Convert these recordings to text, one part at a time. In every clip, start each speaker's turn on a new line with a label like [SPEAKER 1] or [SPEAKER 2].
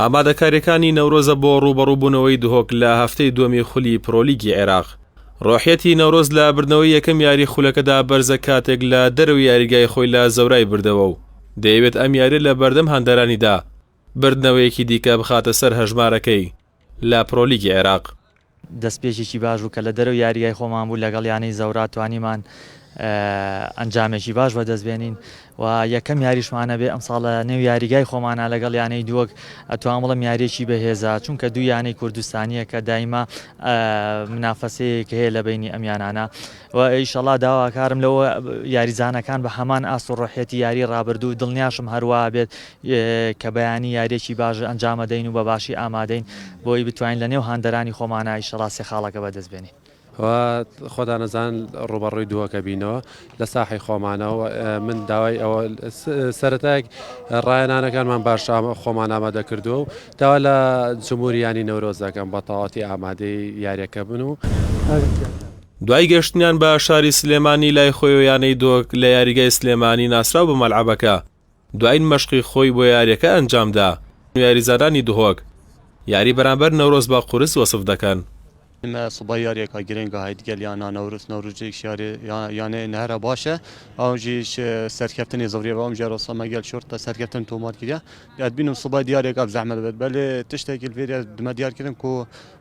[SPEAKER 1] ئامادەکاریەکانی نەورۆزە بۆ ڕوبەڕوبوونەوەی دهۆک لە هەفتەی دووەمی خولی پرۆلیگی عێراق ڕۆحەتی نەورۆز لە بردنەوەی یەکەم یاری خولەکەدا بەرزە کاتێک لە دەرەوە یاریگای خۆی لە زەورای بردەوە و دەیەوێت ئەم یاری لە بەردەم هەندەرانیدا بردنەوەیەکی دیکە بخاتە سەر هەژمارەکەی لە پرۆلیگی عێراق دەستپێکێکی
[SPEAKER 2] باش بوو کە لە دەرەوەی یاریگای خۆمان بوو لەگەڵ یانەی زەوراا توانیمان ئەنجامێکی باش بەدەست بێنین و یەکەم یاریشمانە بێ ئەمساڵ لە نێو یاریگای خۆمانە لەگەڵ یانەی دووەک ئەتوان بڵم یاریەکی بەهێزە چونکە دوو یانەی کوردستانیە کە دایمە منافەسەیەک هەیە لە بینی ئەم یانانە وە ئیشەڵا داواکارم لە یاریزانەکان بە هەمان ئاست و ڕۆحیەتی یاری ڕابردوو دڵنیاشم هەروا بێت کە بەیانی یاریەکی باش ئەنجامەدەین و بە باشی ئامادەین بۆی بتوانین لە نێو هاندەرانی خۆمانا ئیشەڵا سێ خاڵەکە بەدەست بێنین. وە
[SPEAKER 3] خۆدا نەزان ڕووبەڕووی دووەکە بینەوە لە ساحەی خۆمانەوە وە من داوای ئەوە سەرەتایەک ڕایەنانەکانمان باش خۆمان ئامادە کردووە و داوا لە جمهوریانی نەورۆز دەکەم بە تەواتی ئامادەی یاریەکە بن و
[SPEAKER 1] دوای گەشتنیان بە شاری سلێمانی لای خۆیەوە یانەی دۆک لە یاریگای سلێمانی ناسراو بە مەلعەبەکە دواین مەشقی خۆی بۆ یاریەکە ئەنجامدا و یاریزانانی دهۆک یاری بەرامبەر نەورۆز بە قورس وەسف دەکەن. ئیمە سبەی
[SPEAKER 4] یاریەکە گرنگە هەی دگەل یانە نەورۆز، نەورۆزیش یانەیە نەهرە باشە ئەونجیش سەرکەفتنی زڕیە بە ئەمجارە و سەمەگەل شورتە سەرکەفتن تۆمار کریا، ئەتبینم سبەی دیاریەکە زەحمەت بێت بەلێ تشتەکیل فێریا دمە دیارکردن کو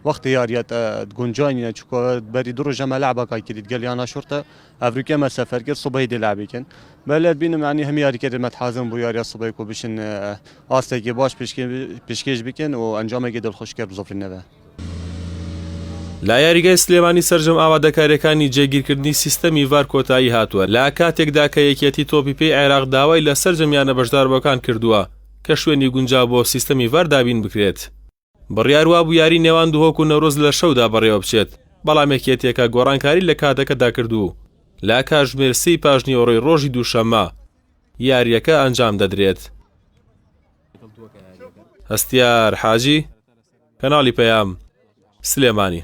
[SPEAKER 4] وەخت یاریە تە گونجای نیە چکۆ بەری دو ڕوژە مەلع بە کای کلید گەل یانا شوڕتە ئەفریکە مە سەفەر کرد سوبەی دێ لابی کن بەلەر بینم یانی هەم یاری کەێت مەتحازم بو یاریە سوبەی کو بشن ئاستێکی باش پیشکێش بکەن و ئەنجامێکی دڵخوشکەر بزۆفر نەبە.
[SPEAKER 1] لە یاریگای سلێمانی سەرجەم ئامادەکاریەکانی جێگیرکردنی سیستەمی ڤار کۆتایی هاتووە، لە کاتێکدا کە یەکێتی تۆپی پێی عێراق داوای لە سەرجەم یانە بەشداربووەکان کردووە کە شوێنی گونجاو بۆ سیستەمی ڤار دابین بکرێت. بڕیار وابوو یاری نێوان دهۆک و نەورۆز لە شەودا بەڕێوەبچێت، بەڵام یەکێتییەکە گۆڕانکاری لە کاتەکەدا کرد و لە کاتژمێر سێی پاشنیوەڕۆی رۆژی دووشەممە یارییەکە ئەنجامدەدرێت. هەستیار حاجی، کەناڵی پەیام، سلێمانی.